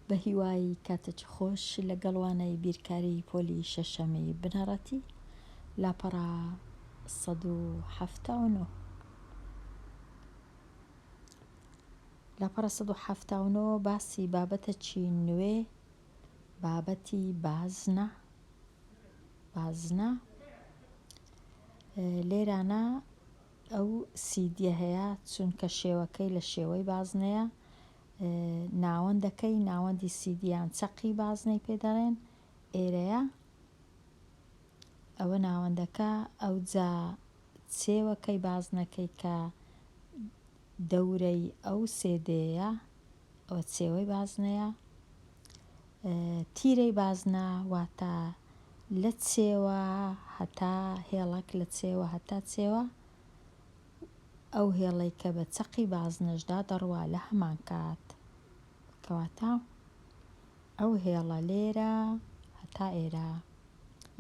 بەهیوای کاتەکی خۆش لەگەڵ وانەی بیرکاری پۆلی شەشەمی بنەڕەتی لاپەڕە سەد و حەفتا و نۆ لاپەڕە سەد و حەفتا و نۆ باسی بابەتەکی نوێ بابەتی بازنە بازنە لێرانە ئەو سیدیە هەیە چونکە شێوەکەی لە شێوەی بازنەیە ناوەندەکەی ناوەندی سیدی یان چەقی بازنەی پێ دەڵێن ئێرەیە ئەوە ناوەندەکە ئەو جا چێوەکەی بازنەکەی کە دەورەی ئەو سێدەیە ئەوە چێوەی بازنەیە. تیرەی بازنە واتە لە چێوە هەتا هێڵەک لە چێوە هەتا چێوە ئەو هێڵەی کە بە چەقی بازنەشدا دەڕوا لە هەمان کات کەواتە ئەو هێڵە لێرە هەتا ئێرە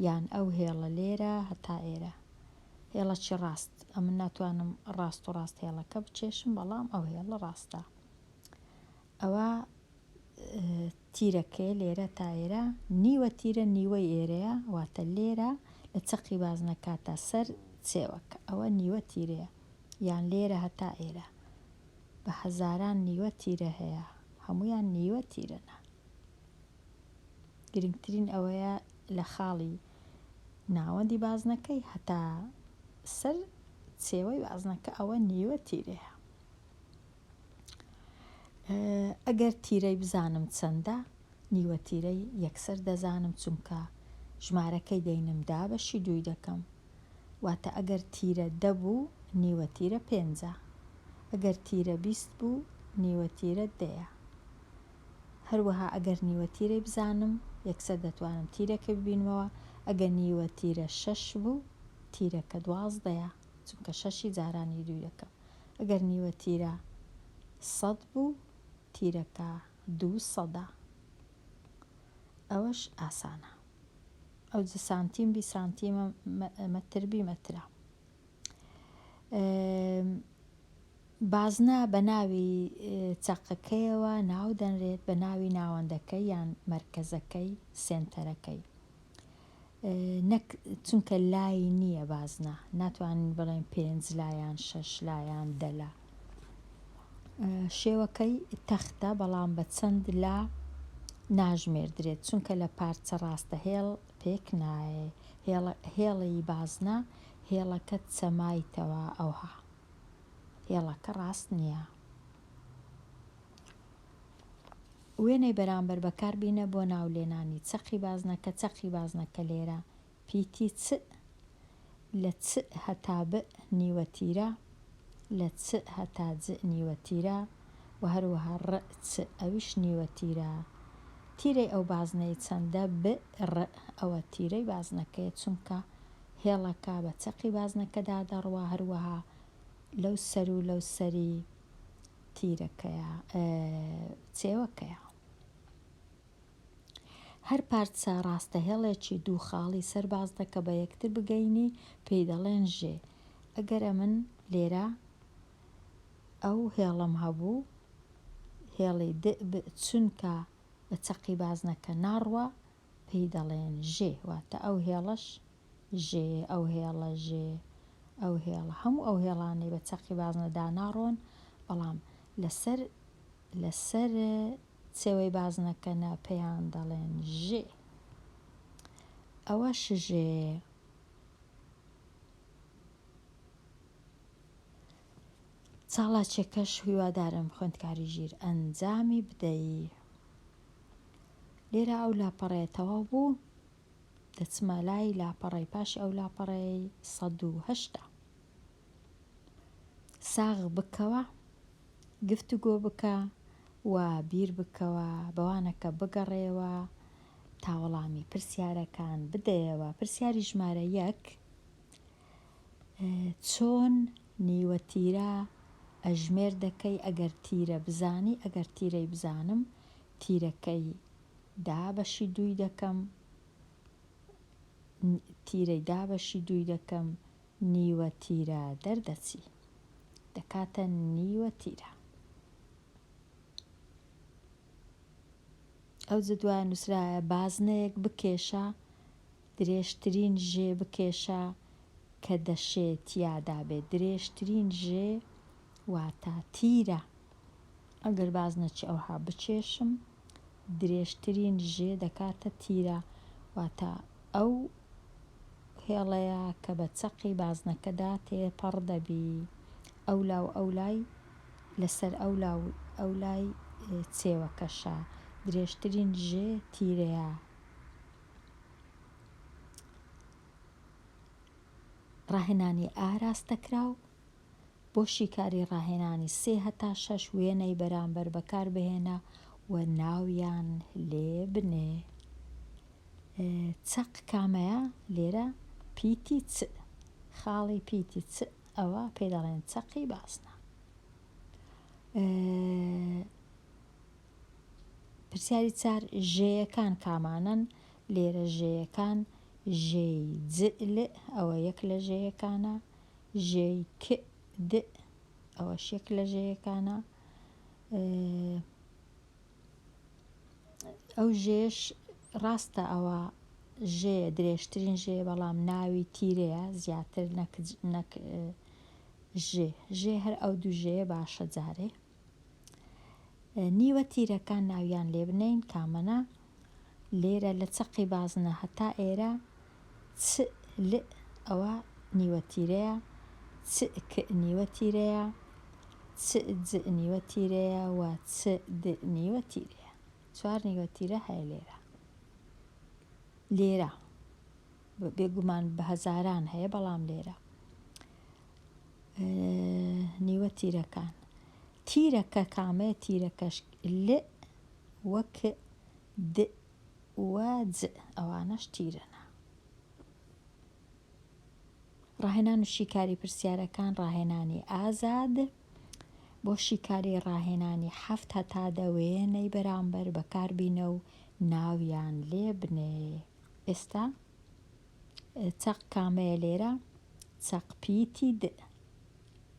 یان ئەو هێڵە لێرە هەتا ئێرە هێڵەکی ڕاست ئەمن ناتوانم ڕاست و ڕاست هێڵەکە بچێشم بەڵام ئەو هێڵە ڕاستە ئەوە تیرەکەی لێرە تا ئێرە نیوە تیرە نیوەی ئێرەیە واتە لێرە لە چەقی بازنەکە تا سەر چێوەکە ئەوە نیوە تیرەیە یان لێرە هەتا ئێرە بە هەزاران نیوە تیرە هەیە هەمویان نیوە تیرەنە گرنگترین ئەوەیە لە خاڵی ناوەندی بازنەکەی هەتا سەر سێوەی بازنەکە ئەوە نیوە تیرەیە ئەگەر تیرەی بزانم چەندە نیوە تیرەی یەکسەر دەزانم چونکە ژمارەکەی دەینم دا بەشی دووی دەکەم واتە ئەگەر تیرە دەبوو نیوە تیرە پێنجە ئەگەر تیرە بیست بوو نیوە تیرە دەیە هەروەها ئەگەر نیوە تیرەی بزانم یەکسەر دەتوانم تیرەکە ببینمەوە ئەگەر نیوە تیرە شەش بوو تیرەکە دوازدەیە چونکە شەشی جاران ی دوو یەکە ئەگەر نیوە تیرە سەد بوو تیرەکە دوو سەدە ئەوەش ئاسانە ئەو جە سانتیم بی سانتیمە مەتر بی مەترە بازنە بە ناوی چەقەکەیەوە ناو دەنرێت بە ناوی ناوەندەکەی یان مەرکەزەکەی سێنتەرەکەی نەک چونکە لای نییە بازنە ناتوانین بڵێن پێنج لا یان شەش لا یان دە لا شێوەکەی تەختە بەڵام بە چەند لا ناژمێردرێت چونکە لە پارچە ڕاستە هێڵ پێک نایە هێڵی بازنە هێڵەکە چەمایتەوە ئەوها هێڵەکە ڕاست نییە وێنەی بەرامبەر بەکاربینە بۆ ناولێنانی چەقی بازنەکە، چەقی بازنەکە لێرە پیتی چ لە چ هەتا بئ نیوەتیرە، لە چ هەتا جئ نیوەتیرە و هەروەها ڕئ چ ئەویش نیوەتیرە. تیرەی ئەو بازنەی چەندە؟ بئ ڕئ ئەوە تیرەی بازنەکەیە چونکە هێڵەکە بە چەقی بازنەکەدا دەڕوا هەروەها لەو سەر و لەو سەری تیرەکەیە چێوەکەیە. هەر پارچە ڕاستەهێڵێکی دوو خاڵی سەر باز دەکە بە یەکتر بگەینی پێی دەڵێن ژێ. ئەگەر ئەمن لێرە ئەو هێڵم هەبوو هێڵی دئ بئ چونکە بە چەقی بازنەکە ناڕوا پێی دەڵێن ژێ واتە ئەو هێڵەش ژێ، ئەو هێڵە، ژێ، ئەو هێڵە، هەموو ئەو هێڵانەی بە چەقی بازنە داناڕۆن، بەڵام لەسەر لەسەر چێوەی بازنەکەنە پێیان دەڵێن ژێ. ئەوە شژێ. چاڵاچیەکەش هیوادارم خوێندکاری ژیر ئەنجامی بدەی لێرە ئەو لاپەڕەیە تەواو بوو دەچمە لای لاپەڕەی پاشی ئەو لاپەڕەی سەد و هەشتا ساغ بکەوە گفتوگۆ بکە و بیر بکەوە بەوانەکە بگەڕێوە تا وەڵامی پرسیارەکان بدەیەوە پرسیاری ژمارە یەک چۆن نیوە تیرە ئەژمێر دەکەی ئەگەر تیرە بزانی ئەگەر تیرەی بزانم تیرەکەی دا بەشی دووی دەکەم تیرەی دا بەشی دووی دەکەم نیوە تیرە دەردەچی دەکاتە نیوە تیرە ئەو جدوای نووسراە بازنەیەک بکێشە درێژترین ژێ بکێشە کە دەشێت تیادا بێت درێژترین ژێ واتا تیرە ئەگەر باز نەچێ ئەوها بچێشم درێژترین ژێ دەکاتە تیرە واتە ئەو هێڵەیە کە بە چەقی بازنەکەدا تێپەڕ دەبی ئەولا و ئەولای لەسەر ئەولا و ئەولای چێوەکەشە درێژترین ژێ تیرەیە ڕاهێنانی ئاراستەکراو بۆ شیکاری ڕاهێنانی سێ هەتا شەش وێنەی بەرامبەر بەکاربهێنە و ناویان لێ بنێ. چەق کامەیە؟ لێرە پیتی چ، خاڵی پیتی چ، ئەوە پێ دەڵێن چەقی بازنە. پرسیاری چار ژێیەکان کامانن؟ لێرە ژێیەکان ژێی جئل ئەوە یەک لە ژێیەکانە ژێی ک، د، ئەوەش یەک لە ژێیەکانە. ئەو ژێیەش ڕاستە ئەوە ژێیە، درێژترین ژێیە، بەڵام ناوی تیرەیە زیاتر نەک ژێ. ژێ هەر ئەو دوو ژێیە باشە جارێ. نیوە تیرەکان ناویان لێ بنێین کامەنە لێرە لە چەقی بازنە هەتا ئێرە چ ل ئەوە نیوە تیرەیە چ ک نیوە تیرەیە چ ج نیوە تیرەیە و چ د نیوە تیرەیە چوار نیوە تیرە هەیە لێرە لێرە بێگومان بە هەزاران هەیە بەڵام لێرە نیوە تیرەکان تیرەکە کامەیە تیرەکەش ل و ک د و ج ئەوانەش تیرەنە ڕاهێنان و شیکاری پرسیارەکان ڕاهێنانی ئازاد بۆ شیکاری ڕاهێنانی حەفت هەتا دەوێنەی بەرامبەر بەکاربینە و ناویان لێ بنێ ئێستا چەق کامەیە لێرە؟ چەق پیتی د.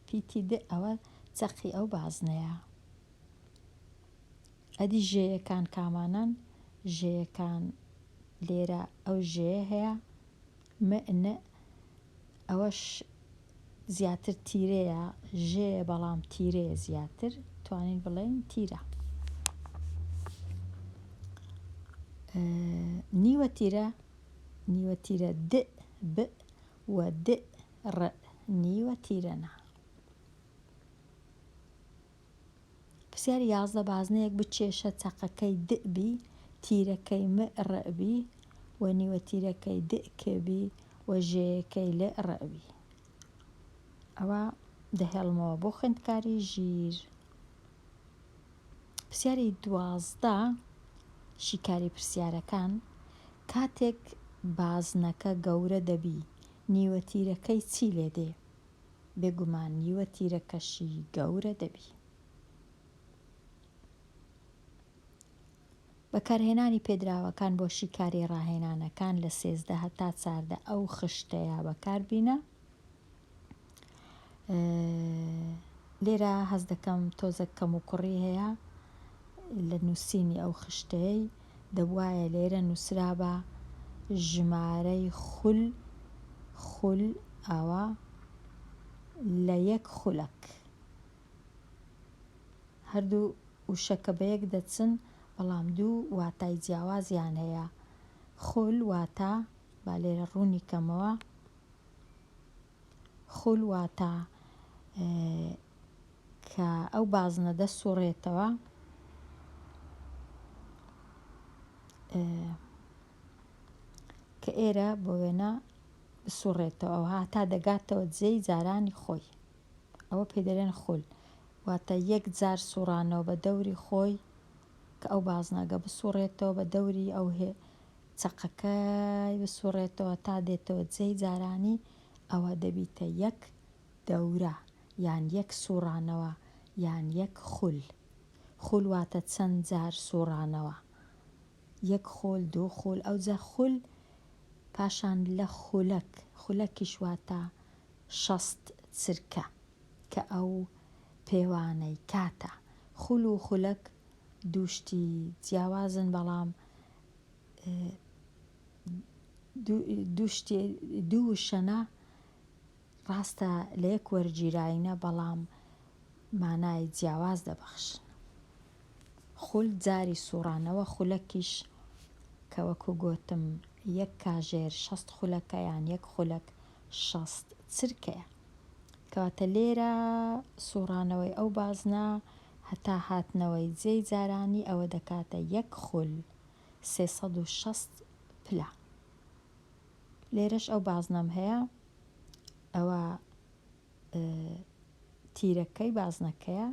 پیتی د ئەوە چەقی ئەو بازنەیە. ئەدی ژێیەکان کامانەن؟ ژێیەکان لێرە ئەو ژێیە هەیە م ن ئەوەش زیاتر تیرەیە ژێیە بەڵام تیرەیە زیاتر توانین بڵێین تیرە نیوە تیرە نیوە تیرە دئ بئ و دئ رئ نیوە تیرە نا. پرسیار یازدە بازنەیەک بچێشە چەقەکەی دئ بی تیرەکەی مئ رئ بی و نیوە تیرەکەی دئ کئ بی و ژێیەکەی لئ رئ بی. ئەوە دەهێڵمەوە بۆ خوێندکاری ژیر. پرسیاری دوازدە، شیکاری پرسیارەکان، کاتێک بازنەکە گەورە دەبی نیوە تیرەکەی چی لێ دێ؟ بێگومان نیوە تیرەکەشی گەورە دەبی. بەکارهێنانی پێدراوەکان بۆ شیکاری ڕاهێنانەکان لە سێزدە هەتا چاردە ئەو خشتەیە بەکاربینە لێرە هەز دەکەم تۆزە کەم و کوڕی هەیە لە نووسینی ئەو خشتەیەی دەبواە لێرە نووسرابە ژمارەی خول خول ئاوا لە یەک خولەک هەردوو وشەکە بەیەک دەچن بەڵام دوو واتای جیاوازیان هەیە خول واتە با لێرە ڕوونی کەمەوە خول واتە کە ئەو بازنە دەسوڕێتەوە کە ئێرە بۆ وێنە بسوڕێتەوە ئەوها تا دەگاتەوە جێی جارانی خۆی ئەوە پێی دەلێن خول واتە یەک جار سوڕانەوە بە دەوری خۆی کە ئەو بازنەگە بسوڕێتەوە بە دەوری ئەو هێ چەقەکەی بسوڕێتەوە تا دێتەوە جێی جارانی ئەوە دەبیتە یەک دەورە یان یەک سوڕانەوە یان یەک خول خول واتە چەند جار سوڕانەوە یەک خول دوو خول ئەوجە خول پاشان لە خولەک خولەکیش واتە شەست چرکە کە ئەو پێوانەی کاتە. خول و خولەک دوو شتی جیاوازن بەڵام دوو شتی دوو وشەنە ڕاستە لە یەک وەرگیراینە بەڵام مانای جیاواز دەبەخشن. خول جاری سوڕانەوە خولەکیش کە وەکو گۆتم یەک کاژێر شەست خولەکە یان یەک خولەک شەست چرکەیە. کەواتە لێرە سوڕانەوەی ئەو بازنە هەتا هاتنەوەی جێی جارانی ئەوە دەکاتە یەک خول سێ سەد و شەست پلە. لێرەش ئەو بازنەم هەیە ئەوە تیرەکەی بازنەکەیە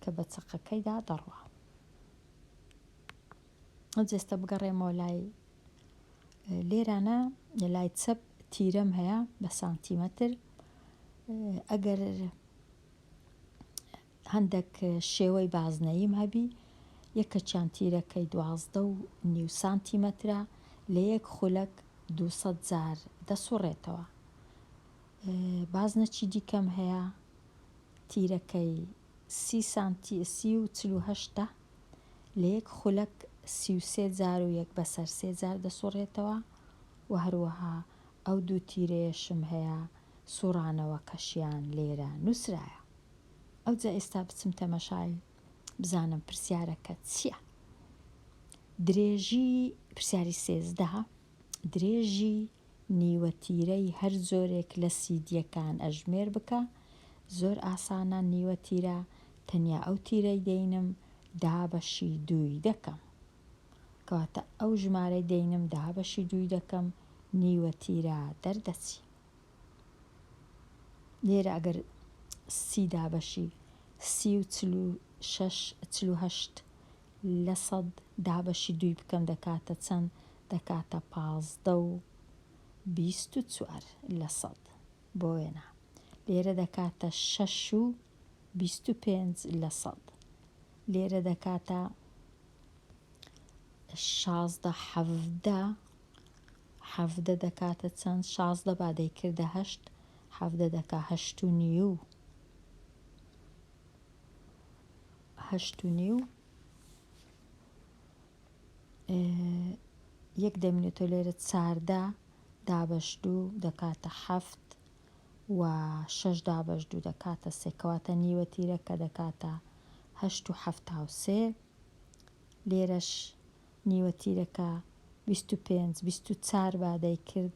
کە بە چەقەکەیدا دەڕوا. جەستە بگەڕێمەوە لای لێرانە لای چەپ تیرەم هەیە بە سانتیمەتر ئەگەر هەندێک شێوەی بازنەیم هەبی یەکە چیان تیرەکەی دوازدە و نیو سانتیمەترە لە یەک خولەک دو جار دەسوڕێتەوە بازنەچی دیکەم هەیە تیرەکەی سی سانتی سی و چلوهشتا لە یەک خولەک سی و سێ جار و یەک بەسەر سێ جار دەسوڕێتەوە و هەروەها ئەو دوو تیرەیەشم هەیە سوڕانەوەکەشیان لێرە نوسرایە ئەوجا ئێستا بچم تەمەشای بزانم پرسیارەکە چیە درێژی پرسیاری سێزدە درێژی نیوە تیرەی هەر جۆرێک لە سیدیەکان ئەژمێر بکە زۆر ئاسانە نیوە تیرە تەنیا ئەو تیرەی دەینم دابەشی دووی دەکەم کەواتە ئەو ژمارەی دەینم دابەشی دووی دەکەم نیوە تیرە دەردەچی لێرە ئەگەر سی دابەشی سی و چلو شەش چلو هەشت لە سەد دابەشی دووی بکەم دەکاتە چەند؟ دەکاتە پازدە و بیست و چوار لە سەد. بۆ وێنە لێرە دەکاتە شەش و بیست و پێنج لە سەد. لێرە دەکاتە شازدە حەڤدە حەڤدە دەکاتە چەند؟ شازدە با دەیکردە هەشت حەڤدە دەکا هەشت و نیو. هەشت و نیو یەک دەمینێتەوە لێرە چاردە دابەش دوو دەکاتە حەفت و شەش دابەش دوو دەکاتە سێ کەواتە نیوە تیرەکە دەکاتە هەشت و حەفتا و سێ لێرەش نیوە تیرەکە بیست و پێنج بیست و چار با دەیکرد